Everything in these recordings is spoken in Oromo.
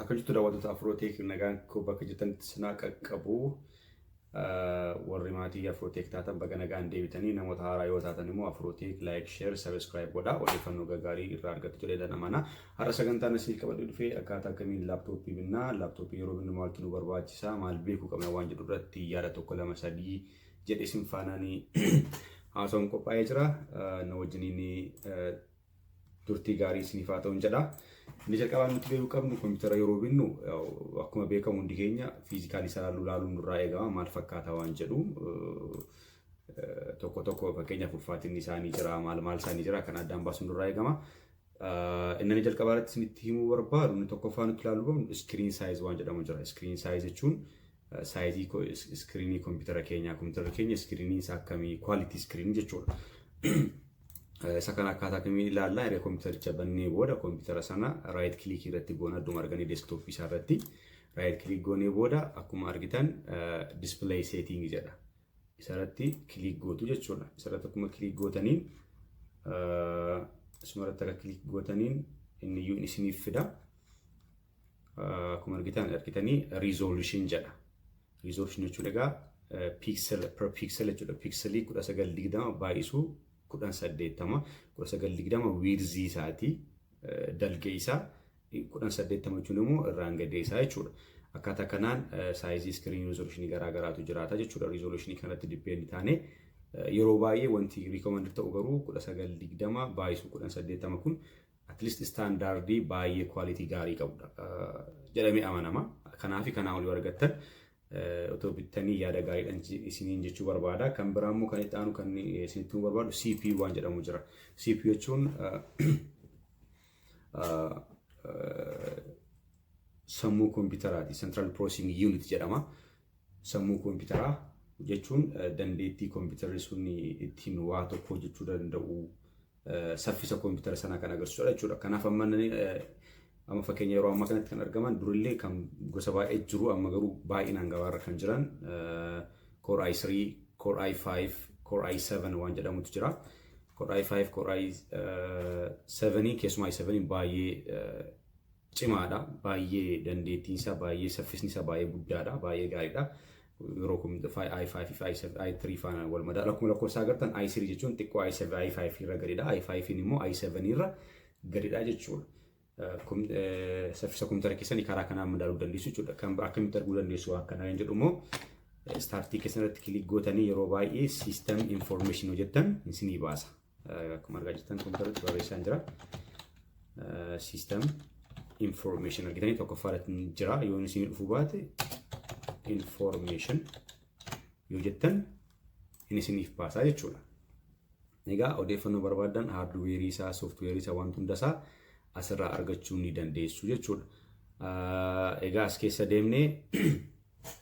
Akka jirtu daawwattoota Afrooteek nagaan koo bakka jirtanitti sinaa qaqqabu. Warri maatii Afrooteek taatan baga nagaan deebitanii namoota haaraa yoo taatan immoo Afrooteek laayik sheer sabiskiraayib godhaa odeeffannoo gaggaarii irraa argattu jedheetan amana. Har'a sagantaan asiif qabadhee dhufe akkaataa akkamiin laaptooppii binnaa laaptooppii yeroo binnu maaltu nu barbaachisa maal beekuu qabna waan jedhu irratti yaada tokko lama sadii jedhe isin faanaanii haasawuun qophaa'ee jira. Na wajjiniin turtii gaarii isiniif haa ta'uun jedha. Inni jalqabaa nuti beekuu qabnu kompiitara yeroo binnu akkuma beekamu hundi keenya fiizikaalii isaa laaluun nurraa eegama maal fakkaata waan jedhu tokko tokko fakkeenyaaf ulfaatinni isaanii jira maal maal isaanii jira kan addaan baasuun nurraa eegama. Inni jalqabaa irratti isinitti himuu barbaadu inni tokkoffaa nuti ilaaluu qabnu iskiriin saayiz waan jedhamu jira. Iskiriin saayiz jechuun Saayizii ko- is- iskiriinii kompiitara keenyaa kompiitara keenya iskiriiniin isaa akkamii kwaalitii iskiriinii jechuudha. Eh, Isa kana akkaataa kamiin ilaallaa erga kompiitaricha bannee booda kompiitara sana raayit kilikii irratti goona adduma arganii deeskitooppii isaa irratti raayit kilik goonee booda akkuma argitan dispilay seeting jedha. Isarratti kilik gootu jechuudha. Isarratti akkuma kilik gootaniin eh, isumarratti akka kilik gootaniin inni iyyuu isiniif fida. akkuma argitan argitanii resolution jedha. Resolution jechuun egaa pixel per pixel jechuudha. Pixelii 1920 baay'isuu 1080 1920 wiirzii isaatii dalgee isaa 1080 jechuun immoo irraan gadee isaa jechuudha. Akkaataa kanaan saayizii iskiriinii rizooluushinii garaa garaatu jiraata jechuudha. Rizooluushinii kanatti dippeendi taane yeroo baay'ee wanti riikoomandii ta'u garuu 1920 baay'isuu 1080 kun at least istaandaardii baay'ee kwaalitii gaarii qabudha jedhamee amanama. Kanaafi kanaa olii argattan otoo bittanii yaada gaariidhaan isiniin jechuu barbaada. Kan biraa immoo kan itti aanu kan isinitti himuu barbaadu CPU waan jedhamu jira. CPU jechuun sammuu koompitaraati. Central Processing Unit jedhama. Sammuu koompitaraa jechuun dandeettii koompitarri sun ittiin waa tokko hojjechuu danda'u saffisa koompitara sanaa kan agarsiisudha jechuudha. Kanaaf amma amma fakkeenya yeroo ammaa kanatti kan argaman durillee kan gosa baay'ee jiru amma garuu baay'inaan gabaarra kan jiran Core i3, Core i5, Core i7 waan jedhamutu jira. Core i5, Core i7 keessumaa i7 baay'ee cimaadha. Baay'ee dandeettiin isaa baay'ee saffisni isaa baay'ee guddaadha. Baay'ee gaariidha. Yeroo kun i5 fi i7 i3 faana wal madaala. Akkuma lakkoofsa agartan i3 jechuun xiqqoo i7 i5 irra gadidha. i5 immoo i7 irra gadidha jechuudha. Saffisa kompiitara keessanii karaa kanaan madaaluu dandeessu jechuudha. Kan akkamitti arguu dandeessu waan kanaa hin jedhu immoo istaartii keessan irratti kilik gootanii yeroo baay'ee siistem infoormeeshin hojjettan isinii baasa. Akkuma argaa jirtan kompiitarratti barreessaan jira. System information argitanii tokkoffaa irratti ni jira. Yoo isin dhufuu baate information yoo jettan hin isiniif baasaa jechuudha. Egaa odeeffannoo barbaadan haardweerii isaa, sooftiweerii isaa, wanti hunda isaa asirraa argachuu ni dandeessu jechuudha. Egaa as keessa deemnee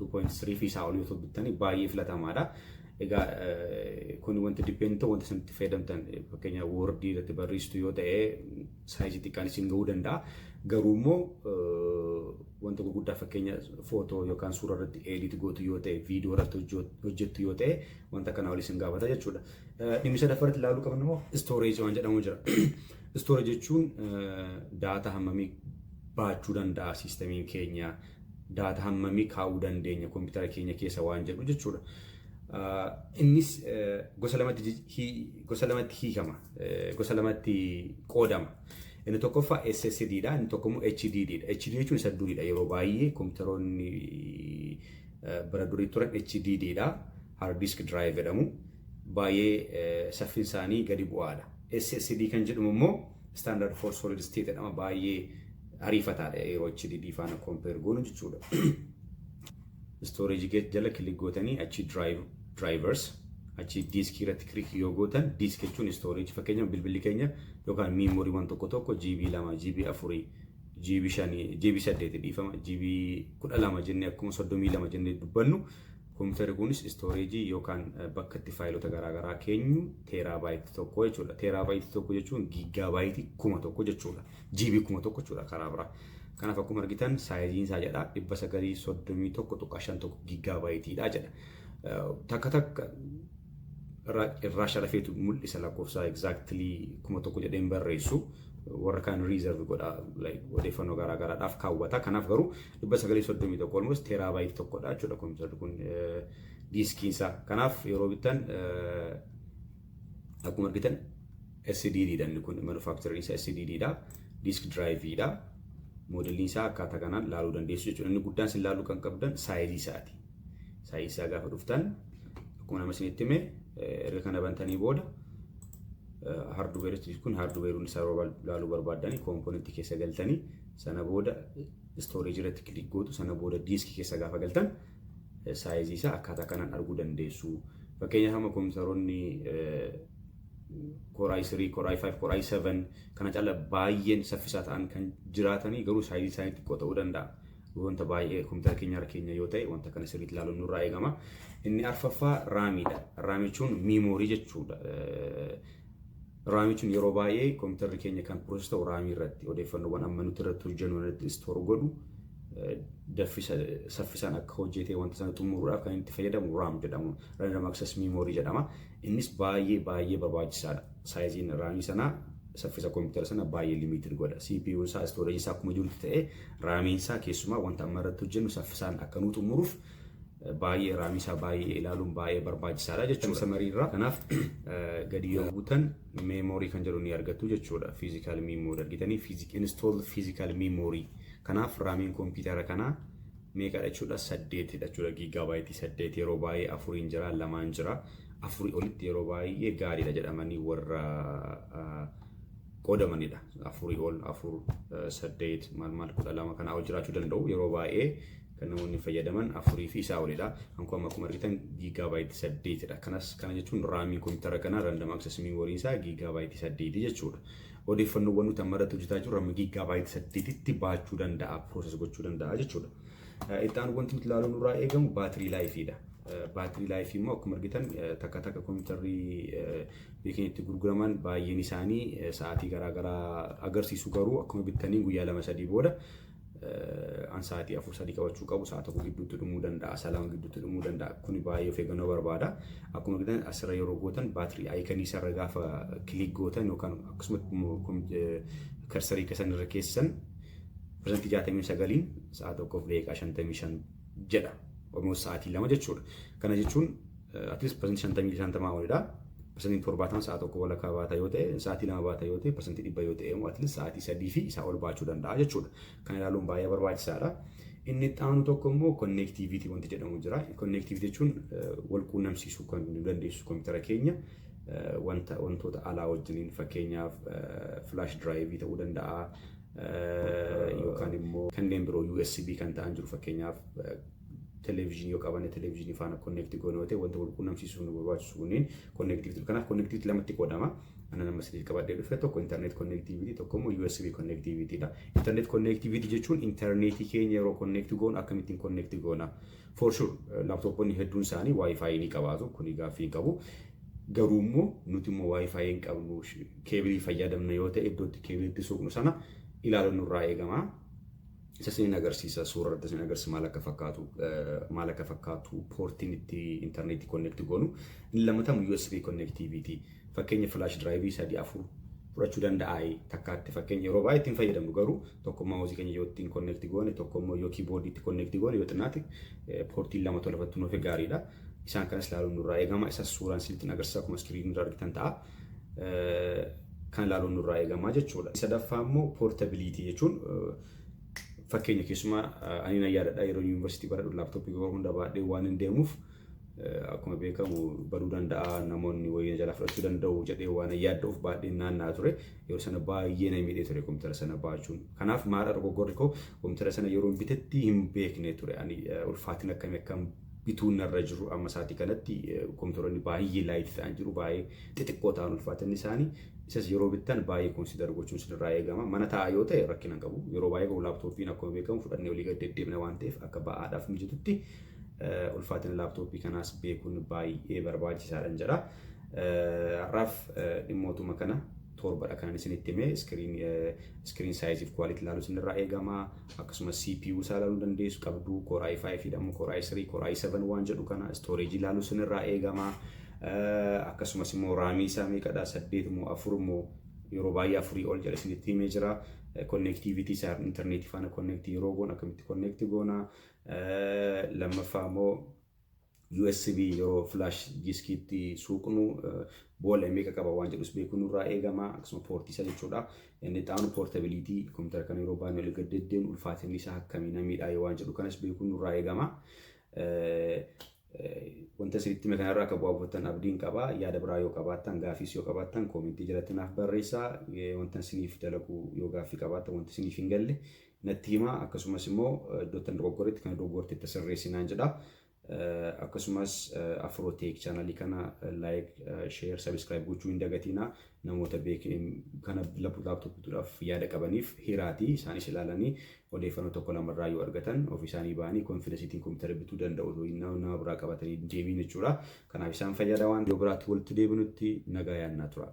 2.3 fi isaa olii otoo bittanii baay'ee filatamaadha. Egaa kun wanti dippeendii ta'u wanta isinitti fayyadamtan fakkeenyaaf woordii irratti barreessitu yoo ta'e saayizii xiqqaan isin ga'uu danda'a. Garuu immoo wanta gurguddaa fakkeenya footoo yookaan suura irratti eedit gootu yoo ta'e viidiyoo irratti hojjettu yoo ta'e wanta kana ol isin gaafata jechuudha. Dhimmi sadaffaa irratti ilaaluu qabnu immoo istooreejii waan jedhamu jira. Istooreejii jechuun daataa hammamii baachuu danda'a siistamiin keenya. Data hammamii kaa'uu dandeenya koompitara keenya keessa waan jedhu jechuudha. Innis gosa lamatti hiikama. Gosa lamatti qoodama. Inni tokkoffaa SSD dha. Inni tokko immoo HDD dha. HD jechuun isa durii dha. Yeroo baay'ee koompitaroonni bara durii turan HDD dha. Hard disk drive jedhamu. Baay'ee saffiin isaanii gadi bu'aadha. SSD kan jedhamu immoo Standard for solid state jedhama baay'ee ariifataadha yeroo HDD faana compare goonu jechuudha. Storage gate jala click gootanii achi drive drivers achi disk irratti click yoo gootan disk jechuun storage fakkeenyaaf bilbilli keenya yookaan memory waan tokko tokko GB 2 GB 4 GB 5 GB 8 dhiifama GB 12 jennee akkuma 32 jennee dubbannu Kompiitarri kunis istooreejii yookaan bakka itti faayilota garaagaraa keenyu teeraabaayiti tokko jechuudha. Teeraabaayiti tokko jechuun giigaabaayiti kuma tokko jechuudha. Jiibii kuma tokko jechuudha karaa biraa. Kanaaf akkuma argitan saayiziin isaa jedha 931.51 giigaabaayitiidha jedha. Takka takka irraa sharafeetu mul'isa lakkoofsa exactly kuma tokko jedhee hin barreessu. Warra kaan reserve godha odeeffannoo garaagaraadhaaf kaawwata. Kanaaf garuu dhibba sagalii fi soddomii tokko almost teeraabaayit tokkodha jechuudha kompiitarri kun diiskiin isaa. Kanaaf yeroo bittan akkuma argitan SDD dha inni kun manufaaktariin isaa SDD dha diisk diraayiivii dha moodeliin isaa akkaataa kanaan laaluu dandeessu jechuudha. Inni guddaan isin laaluu kan qabdan saayizii isaati. Saayizii isaa gaafa dhuftan akkuma nama isinitti hime erga kana bantanii booda haarduweeritti kun haarduweeruun isaa laaluu barbaaddanii koompoonentii keessa galtanii sana booda Storage irratti click gootu sana booda disk keessa gaafa galtan saayizii isaa akkaataa kanaan arguu dandeessu. Fakkeenyaaf amma kompiitaroonni Core i3, Core i5, Core i7 kana caalaa baay'een saffisaa ta'an kan jiraatanii garuu saayizii isaanii xiqqoo ta'uu danda'a. Wanta baay'ee kompiitara keenya irra keenya yoo ta'e wanta kana sirriitti ilaaluun nurraa eegama. Inni arfaffaa raamiidha. Raamichuun miimoorii jechuudha. Raamii jechuun yeroo baay'ee kompiitarri keenya kan piroosesii ta'u raamii irratti odeeffannoowwan amma nuti irratti hojjennu irratti istoor godhu daffisa saffisaan akka hojjetee wanta sana xumuruudhaaf kan itti fayyadamu raam jedhamu random access memory jedhama. Innis baay'ee baay'ee barbaachisaadha. Saayiziin raamii sanaa saffisa kompiitara sana baay'ee limited godha. CPU isaa storage isaa akkuma jirutti ta'ee raamiin isaa keessumaa wanta amma irratti hojjennu saffisaan akka nu xumuruuf baay'ee raamii isaa baay'ee ilaaluun baay'ee barbaachisaadha jechuudha. Samarii irraa kanaaf gadi yoo buutan meemoorii kan jedhu ni argattu jechuudha. Fiizikaal miimoorii argitanii fiizik install fiizikaal miimoorii. Kanaaf raamiin kompiitara kanaa meeqadha jechuudha saddeetidha jechuudha giigaabaayiti saddeet yeroo baay'ee afuriin jira lamaan jira afurii olitti yeroo baay'ee gaariidha jedhamanii warra qoodamanidha afurii ol afur saddeet maal maal kudha lama kanaa ol jiraachuu danda'u yeroo baay'ee kan namoonni fayyadaman afurii fi isaa olidha. Kan kun amma akkuma argitan giigaabaayiti saddeetidha. Kanas kana jechuun raamiin kompiitara kanaa random access memory isaa giigaabaayiti saddeeti jechuudha. Odeeffannoowwan nuti amma irratti hojjetaa jirru amma giigaabaayiti saddeetitti baachuu danda'a, process gochuu danda'a jechuudha. Itti aanu wanti nuti ilaaluun irraa eegamu baatirii laayifiidha. Baatirii laayifii immoo akkuma argitan takka takka kompiitarri beekan itti gurguraman baay'een isaanii sa'aatii garaagaraa agarsiisu garuu akkuma bittaniin guyyaa lama sadii booda an sa'aatii afur sadii qabachuu qabu sa'a tokko gidduutti dhumuu danda'a sa'a lama gidduutti dhumuu danda'a kuni baay'ee of eeggannoo barbaada akkuma gidan asirra yeroo gootan baatirii ayikanii isarra gaafa kilik gootan yookaan akkasuma karsarii keessan irra keessan pirsantii jaatamii sagaliin sa'a tokkoof daqiiqaa shantamii shan jedha. Almost sa'aatii lama jechuudha. Kana jechuun at least parsantii shantamii shantamaa olidha. Parsantiin torbaatama sa'a tokko walakkaa baata yoo ta'e, sa'aatii lama baata yoo ta'e, parsantii dhibba yoo ta'e immoo at least sa'aatii sadii fi isaa ol baachuu danda'a jechuudha. Kana ilaaluun baay'ee barbaachisaadha. Inni itti aanu tokko immoo konneektiiviitii wanti jedhamu jira. Konneektiiviitii jechuun wal quunnamsiisuu kan nu dandeessisu kompiitara keenya wanta wantoota alaa wajjiniin fakkeenyaaf filaash diraayivii ta'uu danda'a. yookaan immoo kanneen biroo USB kan ta'an jiru fakkeenyaaf televizyinii yoo qabanne televizyinii faana konneekti goone yoo ta'e wanta wal quunnamsiisuuf nu barbaachisu kunneen konneektiiviti kanaaf konneektiiviti lamatti qoodama ana nama sadiif qabadhee dhufe tokko internet konneektiiviti tokko immoo USB konneektiivitiidha internet konneektiiviti jechuun interneetii keenya yeroo konneekti goonu akkamittiin konneekti goona For sure laptoponni hedduun isaanii wifi ni qabaatu kuni gaaffii hin qabu. Garuu immoo nuti immoo wifi hin qabnu keebilii fayyadamna yoo ta'e iddoo itti keebilii itti suuqnu sana ilaaluun nurraa eegama. Isa isin agarsiisa suura irratti isin agarsiisa maal akka fakkaatu maal akka fakkaatu poortiin itti intarneetii konneekti goonu inni lammatamu USB konneektiiviitii fakkeenya filaash diraayivii sadii afur fudhachuu danda'aayi takkaatti fakkeenya yeroo baay'ee ittiin fayyadamnu garuu tokko maawusii keenya yoo ittiin konneekti goone tokko immoo yoo kiiboordii itti konneekti goone yoo xinnaate poortiin lama tola irratti nuuf gaariidha. Isaan kanas ilaaluun nurraa eegama. Isas suuraan isinitti agarsiisa akkuma iskiriinii irra argitan ta'a. Kan ilaaluun nurraa eegama jechuudha. Sadaffaa immoo poortabiliitii jechuun fakkeenya keessumaa ani na yaadadha yeroo yuunivarsiitii baradhu laaptooppii yeroo hunda baadhee waan hin deemuuf akkuma beekamu baduu danda'a namoonni wayii jala fudhachuu danda'u jedhee waan yaadduuf baadhee naannaa ture. Yeroo sana baay'ee na miidhee ture kompiitara sana baachuun. Kanaaf maadha dogoggorri koo kompiitara sana yeroon bitetti hin beekne ture. Ani ulfaatina akkamii akkan bituun narra jiru amma isaatii kanatti kompiitaroonni baay'ee laayitii ta'an jiru baay'ee xixiqqoo ta'an ulfaatinni isaanii isas yeroo bittan baay'ee konsiidar gochuun isinirraa eegama mana taa'aa yoo ta'e rakkina hin qabu yeroo baay'ee garuu laaptooppiin akkuma beekamu fudhannee olii gad deddeebina waan ta'eef akka ba'aadhaaf mijatutti ulfaatina laaptooppii kanaas beekuun baay'ee barbaachisaadhan jedha. Har'aaf dhimmootuma kana torbadha kanan isinitti hime. Iskiriin iskiriin saayiziif quality ilaaluu isinirraa eegama. Akkasumas CPU isaa ilaaluu dandeessu qabdu. Core i5 fi dhammoo Core i3, Core i7 waan jedhu kana storage ilaaluu isinirraa eegama. Akkasumas immoo raamii isaa meeqadha? Saddeet moo afur moo yeroo baay'ee afurii ol jedhe isinitti himee jira. Connectivity isaa interneetii faana connect yeroo goon akkamitti connect goona. Lammaffaa immoo USB yeroo flash diskiitti suuqnu boolla meeqa qaba waan jedhus beekuu nurraa eegama akkasuma poortii isa jechuudha. Inni itti aanu poortabiliitii kompiitara kana yeroo baannee olii gad deddeemnu ulfaatinni isaa akkamii namiidhaa yoo waan jedhu kanas beekuu nurraa eegama. Wanta isinitti hime kanarraa akka bu'aa buufattan abdiin qaba. Yaada biraa yoo qabaattan gaafiis yoo qabaattan koomentii jalatti naaf barreessaa. Wanta isiniif dalagu yoo gaaffii qabaattan wanti isiniif hin galle natti himaa akkasumas immoo iddoottan dogoggoretti kana dogoggorte itti sirreessi naan jedha. Akkasumas Afrootech chaanalii kana like, share, subscribe gochuu hin dagatiina. Namoota kana laptop bituudhaaf yaada qabaniif hiraati isaanis ilaalanii odeeffannoo tokko lama irraa yoo argatan ofii isaanii ba'anii konfidensiitiin kompiitara bituu danda'u nama biraa qabatanii deemiin jechuudha. Kanaaf isaan fayyada waan yoo biraatti walitti deebinutti nagaa yaannaa tura.